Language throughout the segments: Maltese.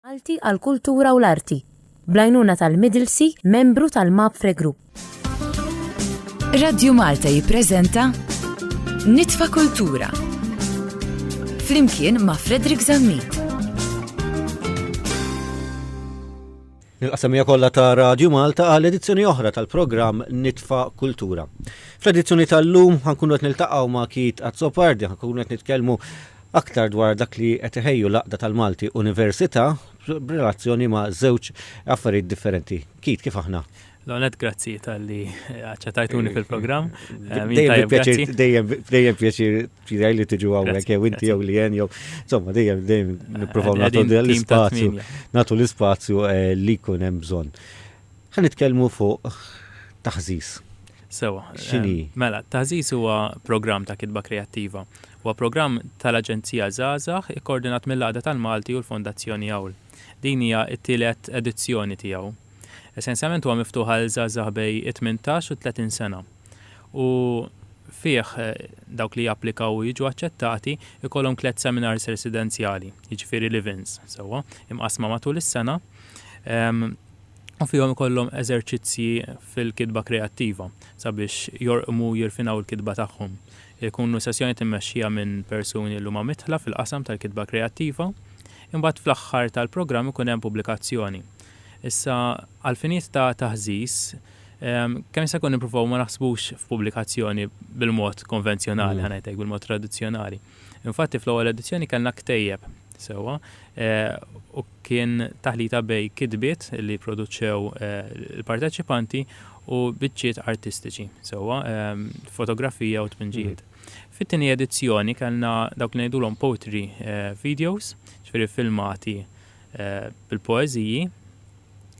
Malti għall-Kultura u l-Arti, bl-għajnuna tal-Midlsey, membru tal-Mapfre Group. Radio Malta jippreżenta Nitfa' Kultura flimkien ma' Frederick Zammit. Nil-qasamija kollha ta' Radio Malta għal edizzjoni oħra tal-programm Nitfa Kultura. Fl-edizzjoni tal-lum ħankunu qed niltaqgħu ma' Kit Azzopardi, ħankunu qed nitkellmu Aktar dwar dak li qed iħejju l-Għaqda tal-Malti Università b'relazzjoni ma' żewġ affarijiet differenti. Keith, kif aħna? L-ewwel nett grazzi talli aċċettajtuni fil-programm. Dejjem pjaċir, dejjem pjaċir tiegħi li tiġu hawnhekk jew inti jew li jew. Insomma, dejjem dejjem nippruvaw nagħtu l-ispazju, nagħtu l-ispazju li jkun hemm bżonn. Ħa nitkellmu fuq taħżiż. Sewwa. X'inhi? Mela, Taħżiż huwa programm ta' kitba kreattiva. Huwa programm tal-Aġenzija Żgħażagħ ikkoordinat mill-Għaqda tal-Malti u l-Fondazzjoni Awl. Din hija t-tielet edizzjoni tiegħu. Essenzjalment huwa miftuħ għal żgħażagħ bej it-tmintax u t-tletin sena. U fih dawk li japplikaw u jiġu aċċettati jkollhom tliet seminars residenzjali, jiġifieri live-ins, sewwa, imqassma matul is-sena. u fihom ikollhom eżerċizzji fil-kitba kreattiva sabiex jorqmu u jirfinaw il-kitba tagħhom. Ikunu sessjonijiet immexxija minn persuni li huma midħla fil-qasam tal-kitba kreattiva. Imbagħad fl-aħħar tal-programm ikun hemm pubblikazzjoni. Issa, għall-finijiet ta' taħżiż, kemm jista' jkun nippruvaw ma naħsbux f'pubblikazzjoni bil-mod konvenzjonali, ħa ngħid hekk, bil-mod tradizzjonali. Infatti fl-ewwel edizzjoni kellna ktejjeb sewwa u kien taħlita bejn kitbiet li pproduċew il-parteċipanti u biċċiet artistiċi sewwa, fotografija u tpinġijiet. Fit-tieni edizzjoni kellna dawk li ngħidulhom poetry videos, ġifieri filmati bil-poeżiji,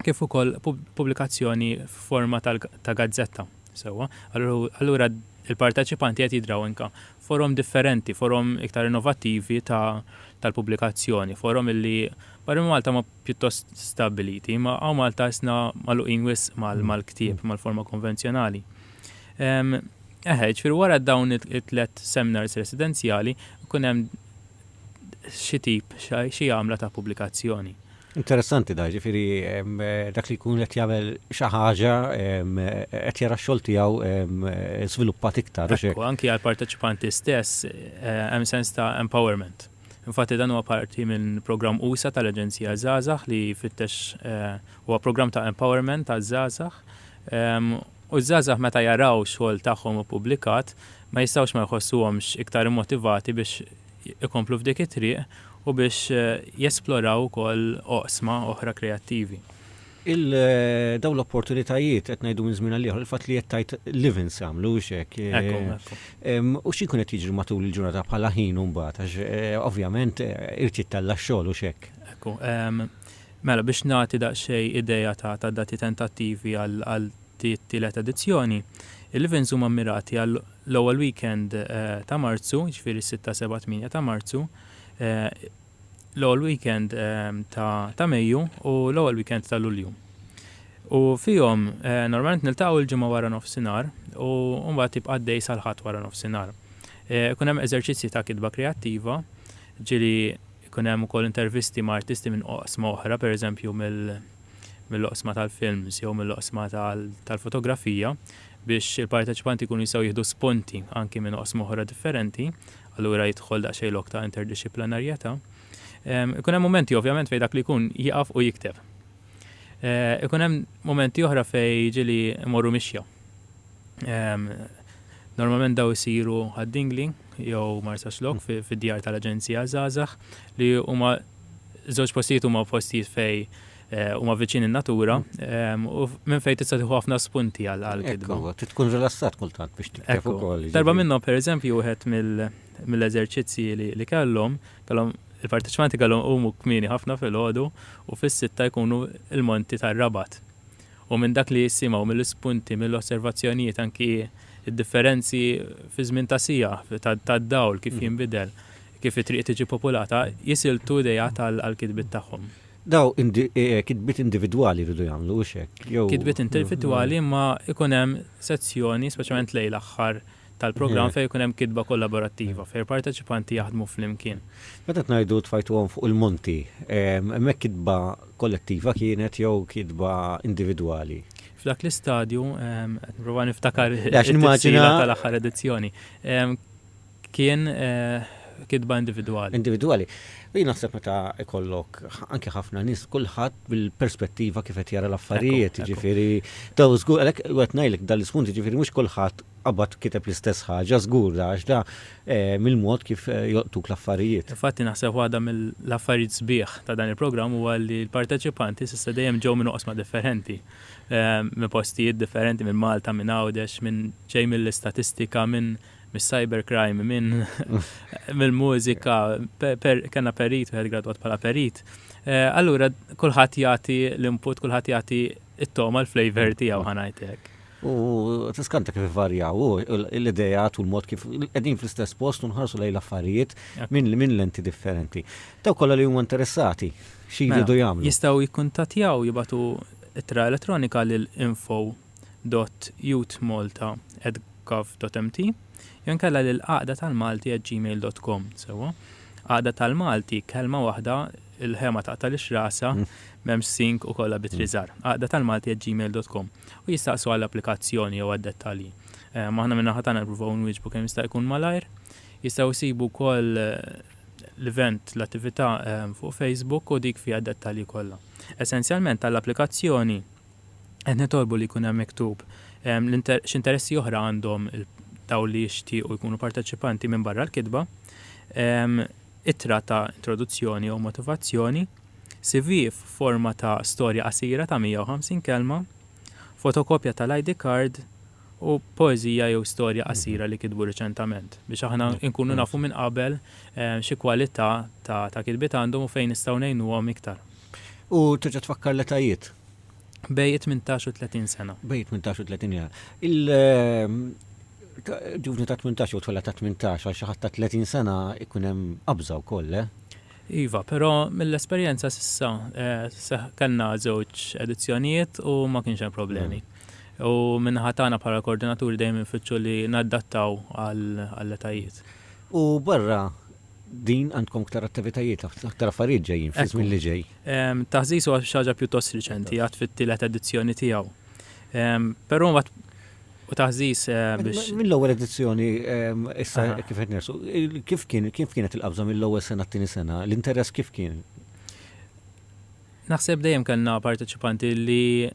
kif ukoll pubblikazzjoni f'forma ta' gazzetta sewwa. Allura l-parteċipanti qed jidraw anke forom differenti, forom iktar innovattivi ta' tal-pubblikazzjoni, forom illi barra minn Malta huma pjuttost stabbiliti, imma hawn Malta ħissna magħluqin wisq mal-ktieb, mal-forma konvenzjonali. Eħe, ġifieri wara dawn it-tliet seminars residenzjali, ikun hemm xi tip, xi għamla ta' pubblikazzjoni. Interessanti da, ġifiri, dak li jkun qed jagħmel xi ħaġa qed jara x-xogħol tiegħu żviluppat iktar. Ekku, anki għall-parteċipanti stess hemm sens ta' empowerment. Infatti dan huwa parti minn programm usa' tal-Aġenzija Żgħażagħ li jfittex huwa programm ta' empowerment għaż-żgħażagħ U ż-żgħażagħ meta jaraw x-xogħol tagħhom ippubblikat ma jistgħux ma jħossuhomx iktar immotivati biex ikomplu f'dik it-triq u biex jesploraw ukoll oqsma oħra kreattivi. Il dawn l-opportunitajiet qed ngħidu minn żmien għal ieħor, il-fatt li qed tgħid live-ins jagħmlu hux hekk? Ekku, ekku. U xi jkun qed jiġri matul il-ġurnata bħala ħin imbagħad għax ovvjament irid jittella' x-xogħol hux hekk? Ekku. Mela, biex nagħti daqsxejn idea ta' dati tentattivi għal dit-tielet edizzjoni, il-events huma mmirati għal l-ewwel weekend ta' Marzu, jiġifieri s-sitta, seba', tmienja ta' Marzu, l-ewwel weekend ta' Mejju u l-ewwel weekend ta' Lulju. U fihom normalment niltaqgħu il-Ġimgħa waranofsinhar u mbagħad jibqa' għaddej sal-Ħadd waranofsinhar. Ikun hemm eżerċizzji ta' kitba kreattiva, ġieli Ikun hemm ukoll intervisti ma' artisti minn oqsma oħra, pereżempju mill-oqsma tal-films jew mill-oqsma tal-fotografija biex il-parteċipanti jkunu jistgħu jieħdu spunti anki minn oqsma oħra differenti, allura jidħol daqsxejn lok ta' interdixxiplanarjetà. Ikun hemm mumenti ovvjament fejn dak li jkun jieqaf u jikteb. Ikun hemm mumenti oħra fejn jiġi li mmorru mixja. Normalment daw isiru għad-Dingli jew Marsaxlokk fid-djar tal-Aġenzija għaż-Żgħażagħ li huma żewġ postijiet huma postijiet fej eh, huma viċin in-natura ehm, u minn fejn tista' tieħu ħafna spunti għall-kitba. Ekku, tkun rilassat kultant biex tikteb ukoll. Darba jiġifieri. minnhom pereżempju wieħed mill-eżerċizzji li kellhom, kellhom il-parteċipanti kellhom huma kmieni ħafna fil-ħodu u fis-sitta jkunu il-monti tar-rabat. u minn dak li jissimgħu mill-ispunti, mill-osservazzjonijiet anki d-differenzi fiż-żmien ta' siegħa, tad-dawl kif jinbidel, kif it-triq tiġi populata, jisiltu ideat għall-kitbiet tagħhom. Daw kitbiet individwali jridu jagħmlu, hux hekk? Kitbiet individwali imma jkun hemm sezzjoni, speċjalment lejn l-aħħar, tal-programm fejn ikun hemm kitba kollaborattiva, fejn il-parteċipanti jaħdmu flimkien. Meta qed ngħidu tfajtuhom fuq il-monti, hemmhekk kitba kollettiva kienet jew kitba individwali? F'dak l-istadju, qed nipprova niftakar it-tifsira tal-aħħar edizzjoni, kien kitba individwali. Individwali. Jien naħseb meta jkollok anke ħafna nies, kulħadd bil-perspettiva kif qed jara l-affarijiet, jiġifieri daw żgur għalhekk qed ngħidlek dan l-ispunt jiġifieri mhux kulħadd qabad kiteb l-istess ħaġa żgur da għax da mill-mod kif jolqtuk l-affarijiet. Infatti naħseb waħda mill-affarijiet sbieħ ta' dan il-programm huwa li l-parteċipanti s'issa dejjem ġew minn oqsma differenti, minn postijiet differenti, minn Malta, minn Għawdex, minn ġej mill-istatistika, minn mis-cybercrime, minn mill-mużika, kellna perit, wieħed gradwat bħala perit. Allura kulħadd jagħti l-input, kulħadd jagħti it-toma l-flavor tiegħu ħanajt hekk. U tiskanta kif varjaw l-idejat u l-mod kif qegħdin fl-istess post u nħarsu lejn l-affarijiet minn lenti differenti. Taw kollha li huma interessati xi jridu jagħmlu. Jistgħu jikkuntattjaw jibatu ittra elettronika lil info dott youth malta at gov dott mt jew inkella lil għaqda tal malti at gmail dott com sewwa għaqda tal malti kelma waħda il ħe ma taqtalix rasha m'hemmx sink u kollha b'ittri żgħar għaqda tal malti at gmail dott com u jistaqsu għall applikazzjoni jew għad dettalji ehm aħna min-naħa tagħna nippruvaw nwieġbu kemm jista' jkun malajr jistgħu jsibu wkoll l event l attività ehm fuq facebook u dik fiha d dettalji kollha essenzjalment għall applikazzjoni Qed nitolbu li jkun hemm miktub x'interessi oħra għandhom dawk li jixtiequ jkunu parteċipanti minbarra l-kitba, ittra ta' introduzzjoni jew motivazzjoni, CV f'forma ta' storja qasira ta' 150 kelma, fotokopja tal-ID card u poeżija jew storja qasira li kitbu riċentament, biex aħna nkunu nafu minn qabel xi kwalità ta' kitbiet għandhom u fejn nistgħu ngħinuhom iktar. U terġa' tfakkar l-etajiet. Bej 18 u 30 sena. Bej 18 u 30 sena. Il-ġuvni ta' 18 u tfella ta' 18 għal xi ħadd ta' 30 sena ikun hemm qabża wkoll, eh? Iva, però mill-esperjenza s'issa eh, kellna żewġ edizzjonijiet u ma kienx hemm problemi. Mm. U minn ħatana bħala koordinaturi dejjem infittxu li naddattaw għall-etajiet. U barra Din għandkom ktar attivitajiet, aktar affarijiet ġejjin fiż-żmien li ġej. Taħżiż huwa xi ħaġa pjuttost riċenti, għad fit-tielet edizzjoni tiegħu. Però mbagħad u taħżiż biex. Mill-ewwel edizzjoni issa kif qed nersu, kif kienet il-qabża mill-ewwel sena t-tieni sena, l-interess kif kien? Naħseb dejjem kellna parteċipanti li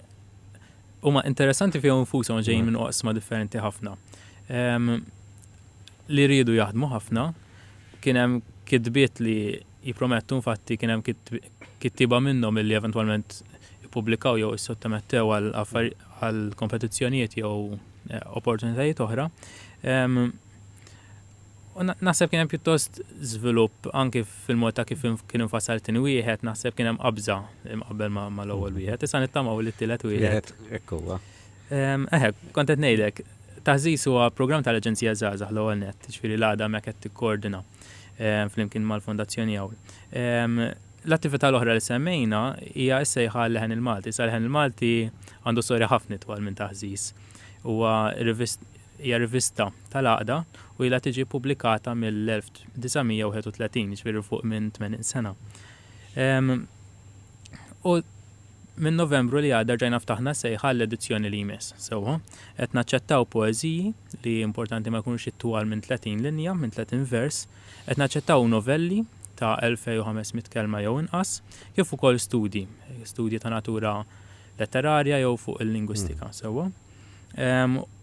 huma interessanti fihom infushom ġejjin minn oqsma differenti ħafna. li riedu jaħdmu ħafna, kien hemm kitbiet li jippromettu infatti kien hemm kittieba minnhom illi eventwalment ippubblikaw jew issottomettew għal għal kompetizzjonijiet jew opportunitajiet oħra. U naħseb kien hemm pjuttost żvilupp anki fil-mod ta' kif kien infassal it-tieni wieħed, naħseb kien hemm qabża imqabbel mal-ewwel wieħed. Issa nittamaw li t-tielet wieħed. Ekku Eħe, kont qed ngħidlek, taħżiż huwa programm tal-Aġenzija Żgħażagħ l-ewwel nett, ġifieri l-għada hemmhekk qed tikkoordina flimkien mal-Fondazzjoni Hawn. L-attività l-oħra li semmejna hija s-sejħa għal-leħen il-Malti. Sa leħen il-Malti għandu storja ħafna itwal minn taħżiż. Huwa hija rivista tal-għaqda u ilha tiġi ppubblikata mill-1931, ġifieri fuq minn 80 sena. U Minn Novembru li għadda rġajna ftaħna sejħa għall-edizzjoni li jmiss. Sewwa, qed naċċettaw poeżiji, li hi importanti ma jkunux itwal minn 30 linja, minn 30 vers, qed naċċettaw novelli ta' 2,500 kelma jew inqas, kif ukoll studji, studji ta' natura letterarja jew fuq il-lingwistika. Sewwa?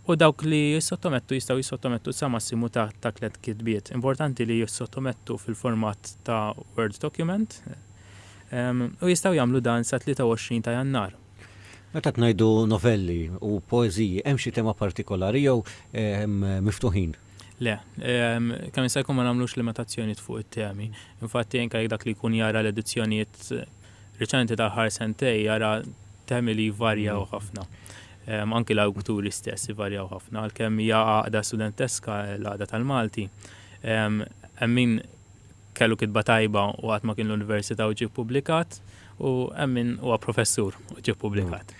U dawk li jissottomettu jistgħu jissottomettu sa massimu ta' ta' tliet kitbiet. Importanti li jissottomettu fil-format ta' Word document, u jistgħu jagħmlu dan sa 23 ta' Jannar. Meta qed ngħidu novelli u poeżiji, hemm xi tema partikolari jew miftuħin? Le, kemm jista' jkun ma nagħmlux limitazzjonijiet fuq it-temi. Infatti anke jekk dak li jkun jara l-edizzjonijiet riċenti tal-aħħar sentejn jara temi li jvarjaw ħafna. Anki l-awturi stess ivarjaw ħafna għalkemm hija għaqda studenteska l-Għaqda tal-Malti. Hemm min kellu kitba tajba u għad ma kien l-università u ġie ppubblikat, u hemm min huwa professur u ġie ppubblikat.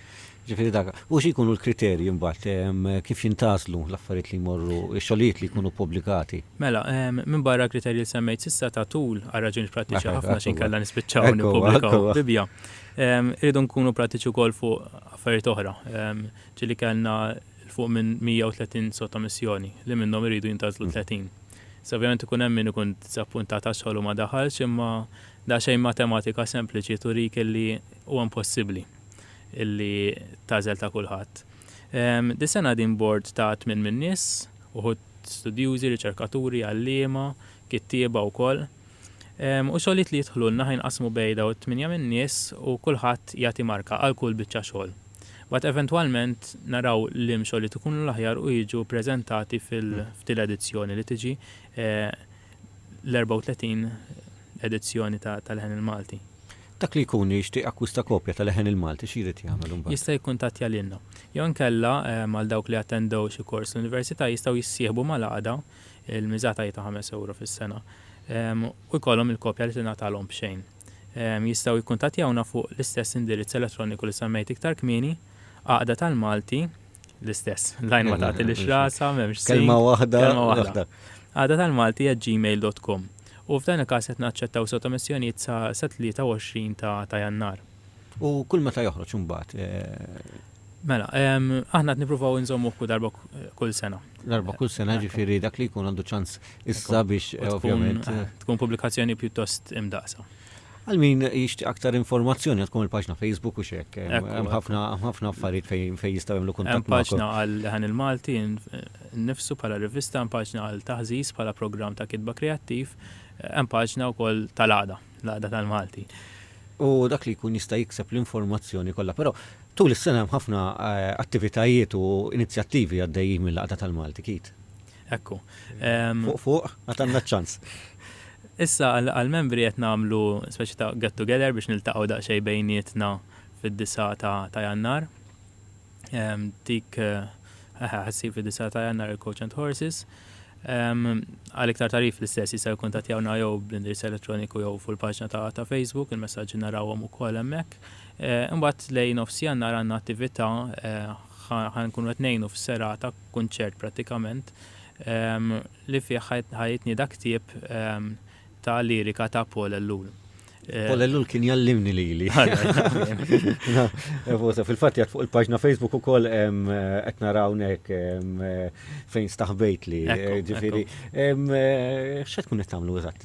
Ġifieri dak. U xi jkunu l-kriterji mbagħad? Kif jintgħażlu l-affarijiet li jmorru, ix-xogħlijiet li jkunu ppubblikati? Mela, minbarra l-kriterji li semmejt s'issa ta' tul għal raġunijiet prattiċi ħafna x'inkella nispiċċaw nippubblikaw Bibbja, irridu nkunu prattiċi wkoll fuq affarijiet oħra. Ġieli kellna 'l fuq minn 130 sottomissjoni, li minnhom iridu jintgħażlu 30. Issa ovvjament ikun hemm min ikun diżappuntat għax xogħlu ma daħalx imma daqsxejn matematika sempliċi turik illi huwa impossibbli illi tagħżel ta' kulħadd. Dis-sena din bord ta' tmien min-nies, uħud studjużi, riċerkaturi, għalliema, kittieba wkoll, u xogħlijiet li jidħlulna ħa jinqasmu bejn dawn it-tmienja min-nies u kulħadd jagħti marka għal kull biċċa xogħol. Mbagħad eventwalment naraw liem xogħlijiet ikunu l-aħjar u jiġu ppreżentati f'din l-edizzjoni li tiġi l-34 edizzjoni tal-Leħen il-Malti. Dak li jkun jixtieq jakkwista kopja tal-Leħen il-Malti x'jrid jagħmel imbagħad? Jista' jikkuntattja lilna. Jew inkella għal dawk li attendew xi kors l-Università jistgħu jissieħbu mal-għaqda. il-miża ta' ta' ħames ewro fis-sena, u jkollhom il-kopja li tingħatalhom b'xejn. Jistgħu jikkuntattjawna fuq l-istess indirizz elettroniku li semmejt iktar kmieni, Għaqda tal-Malti, l-istess, l-għajn ma tagħtilhiex rasha, m'hemmx sink. Kelma waħda. Kelma waħda. Għaqda tal-Malti at gmail dot com. U f'dan il-każ qed naċċettaw sottomissjonijiet sa 23 ta' Jannar. U kull meta joħroġ imbagħad? Mela, aħna qed nippruvaw inżommuh kull darba kull sena. Darba kull sena, jiġifieri dak li jkun għandu ċans issa biex ovvjament. Tkun pubblikazzjoni pjuttost imdaqsa. Għal min jixtieq aktar informazzjoni għandkom il-paġna Facebook u x'hekk. Hemm ħafna affarijiet fejn jistgħu jagħmlu kuntatt. Hemm paġna għal Leħen il-Malti nnifsu bħala rivista, hemm paġna għal Taħżiż bħala programm ta' kitba kreattiv, hemm paġna wkoll tal-Għaqda, l-Għaqda tal-Malti. U dak li jkun jista' jikseb l-informazzjoni kollha. Però Tul is-sena hemm ħafna attivitajiet u inizjattivi għaddejjin mill-Għaqda tal-Malti, Keith. Ekku. Fuq fuq, għad għandna ċ-ċans. Issa għall-membri qed nagħmlu speċi ta' get together biex niltaqgħu daqsxejn bejnietna fid-disgħa ta' Jannar. Dik ħassir fid-disgħa ta' Jannar il-Coach and Horses. Għal iktar tarif l-istess jista' jikkuntattjawna jew bl-indirizz elettroniku jew fuq il-paġna ta' Facebook, il-messaġġi narawhom ukoll hemmhekk. Imbagħad lejn nofsjannar għandna attività, ħa nkunu qed ngħinu f'serata, kunċert prattikament, li fih ħa jitnieda ktieb ta' lirika ta' Paul Ellul. Paul Ellul kien jgħallimni lili. Fil-fatt jgħid fuq il-paġna Facebook ukoll qed nara hawnhekk fejn staħbejtli. Ġifieri, x'se tkun qed tagħmlu eżatt?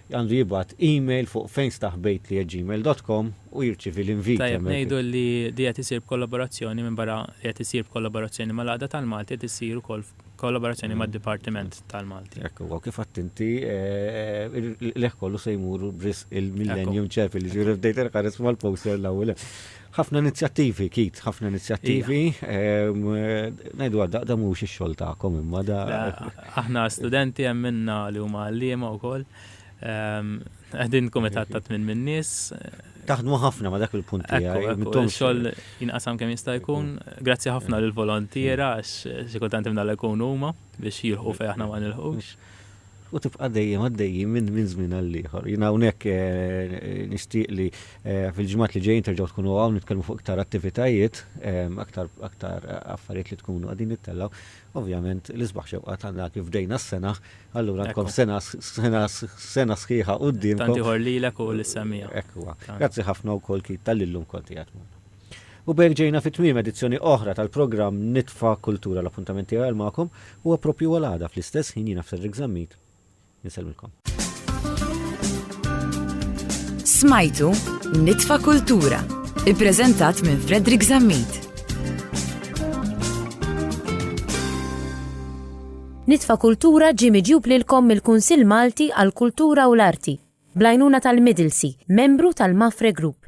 għandu jibgħat email fuq fejnstaħbejtli@gmail.com u jirċievi l-inviti. Tajjeb ngħidu li li qed isir b'kollaborazzjoni minbarra li qed isir b'kollaborazzjoni mal-Għaqda tal-Malti qed issir ukoll f'kollaborazzjoni mad-Dipartiment tal-Malti. Hekk huwa u kif għedt inti il-qligħ kollu se jmur b'risq il-Millennium Chapel, jiġifieri bdejt inħares mal-poster l-ewwel hemm. Ħafna inizjattivi, kit, ħafna inizjattivi. Najdu għadda, da mux il-xol ta'kom imma da. Aħna studenti għemminna li huma għallima u koll. Għedin komitat ta' tmin minn nis. Taħdmu ħafna ma dak il-punt li għajdu. Xol jinqasam kem jista' jkun. Grazzi ħafna l-volontiera, għax xikultant imna l-ekun huma biex jilħu fej aħna ma nilħux. u tibqa' dejjem għaddejjin minn minn żmien għal ieħor. Jien hawnhekk nixtieq li fil-ġimgħat li ġejjin terġgħu tkunu hawn nitkellmu fuq iktar attivitajiet, aktar aktar affarijiet li tkunu qegħdin nittellgħu. Ovvjament l-isbaħ xewqa tagħna kif bdejna s-sena, allura għandkom sena sena sena sħiħa quddiemkom. Tant ieħor lilek u lis-semmiegħa. Hekk huwa. Grazzi ħafna wkoll Keith tal-li llum kont qiegħed magħna. U b'hekk ġejna fi tmiem edizzjoni oħra tal-programm Nitfa' Kultura. L-appuntament tiegħi għal magħkom huwa proprju għal għada fl-istess ħin jiena Frederick Zammit insellmilkom. Smajtu Nitfa' Kultura, ippreżentat minn Frederick Zammit. Nitfa' Kultura ġie miġjub lilkom mill-Kunsill Malti għall-Kultura u l-Arti, bl-għajnuna tal-Middlesey, membru tal-Mafre Group.